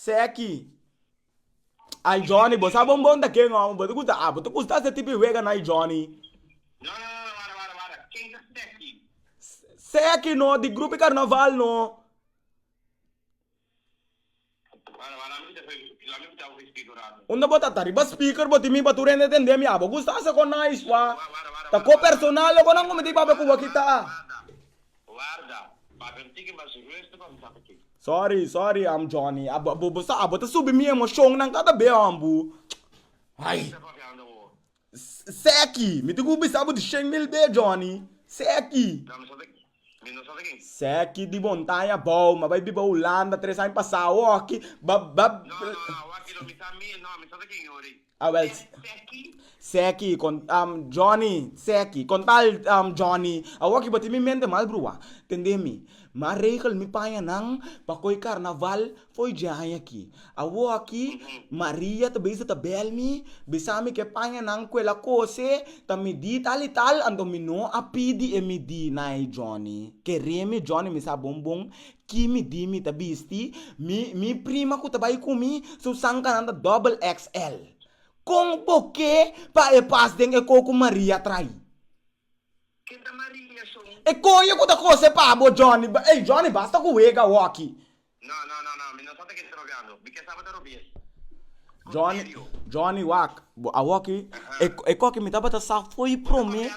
Seki. Ay Johnny, bo sa bon bon ta ken hombre, bo ta gusta, ah, bo ta gusta ese tipo di wega na ay Johnny. No, no, no, no, wara, wara, wara, ken ta Seki? Seki no, di grupo di carnaval no. Wara, wara, lami kita hopi, lami kita hopi speak un rato. Unda bo ta, ta riba speaker bo tin mi pa tur hende tende mi, ah, bo gusta ese con nice, wah. Wara, wara, wara, wara. Ta ko personal loco nan cometi papia cu bo kita. Warda, papia un tiki mas rustu pa mi sa p'e. Sorry, sorry, am Johnny. A bo, bo sa, bo ta subi mi emocionnan cada be hon bu. Ay. Kisa papiando bo? Seki, mi tin cu bisa bo di shen mil be, Johnny. Seki. No, mi sa ta, mi no sa ta kin. Seki di Montaña abao, mi a bai biba Hulanda tres aña pasao aki, ba, ba. No, no, no, awor aki no, mi sa mi, no, mi sa ta kin, Yuri. Awèl, Seki, Johnny, Seki, kon tal Johnny, awor ki bo tin mi mente mas bruha, tende mi, m'a regel mi paña nan pa ko'i karnaval fo'i dje aña aki. Awor aki Maria ta bisa ta bèl mi bisa mi k'e pañanan ku el a kose ta midí tal i tal, anto mi no a pidi e midí na e Johnny. Kere mi Johnny mi sa bon bon Ki mi di mi ta bisti, mi mi prima ku ta bai ku mi su sankanan ta doble XL. Kon, bo ke pa e pas den e ko ku Maria trai? Ken ta Maria son? E koye ku ta kose pa bo Johnny, ba ey Johnny basta ku wega awo aki. No no no no mi no sa ta keda ta robiando, mi ke sa bo ta robi'e. Johnny, Johnny wak, bo awor aki, e, e koki mi tabata sa foi prome,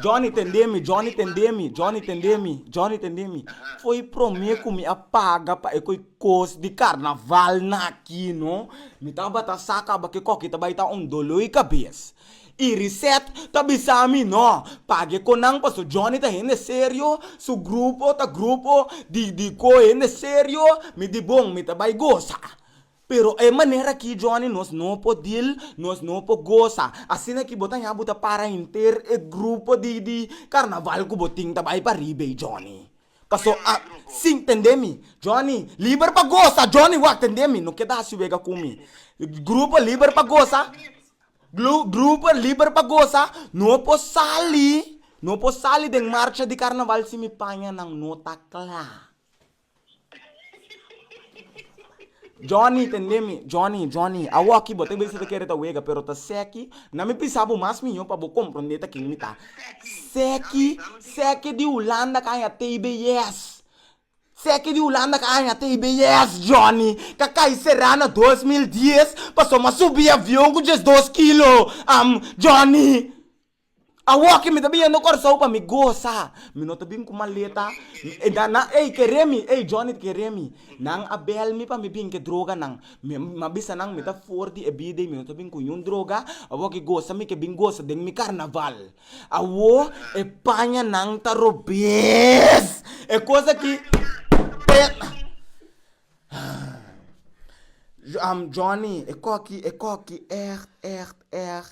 Johnny tende mi, Johnny tende mi, Johnny tende mi, Johnny tende mi, foi prome ku mi a paga pa e koki kos di karnaval na aki no, mi tabata sa kaba ke koki ta bai ta un doloi kabes, i Reset ta bisa mi no page kon nan paso Johnny ta hende serio, su grupo ta grupo di di ko hende serio, mi di bon mi ta bai gosa. Pero e manera aki Johnny nos no por dil, nos no por gosa. Asina ki bo ta ña bo ta para henter e grupo di di carnaval cu bo tin ta bay pa riba ey Johnny. Paso a sin tende mi. Johnny, liber pa gosa Johnny wak tende mi. No keda hasi wega cu mi. Grupo liber pa gosa, glu, grupo liber pa gosa, no por sali, no por sali den marcha di carnaval si mi paña nan no ta cla. Johnny, tendé mi. Johnny, Johnny, awó akí bo ta bisa ta kere ta wega, pero ta sèki. Na mi pisá bo mas mihó pa bo komprondé ta ken mi ta. Sèki, sèki di Hulanda kaña tei beyes. Sèki di Hulanda kaña tei beyes, Johnny. Ka kai será na dos mil dies, pasobra a subí avion ku diesdos kilo. Am, Johnny. Awor ke mi ta bin yendo Kòrsou pa mi gosa, mi no ta bin ku maleta, e nan nan ey kere mi, ey Johnny kere mi, nan a bèl mi pa mi bin ke droganan, mi mi a bisa nan mi ta for di e bida i mi no ta bin ku niun droga, awor ke gosa mi ke bin gosa den mi karnaval. Awor e paña nan ta robes, e kos aki Johnny e kò aki e kò aki èrt èrt èrt.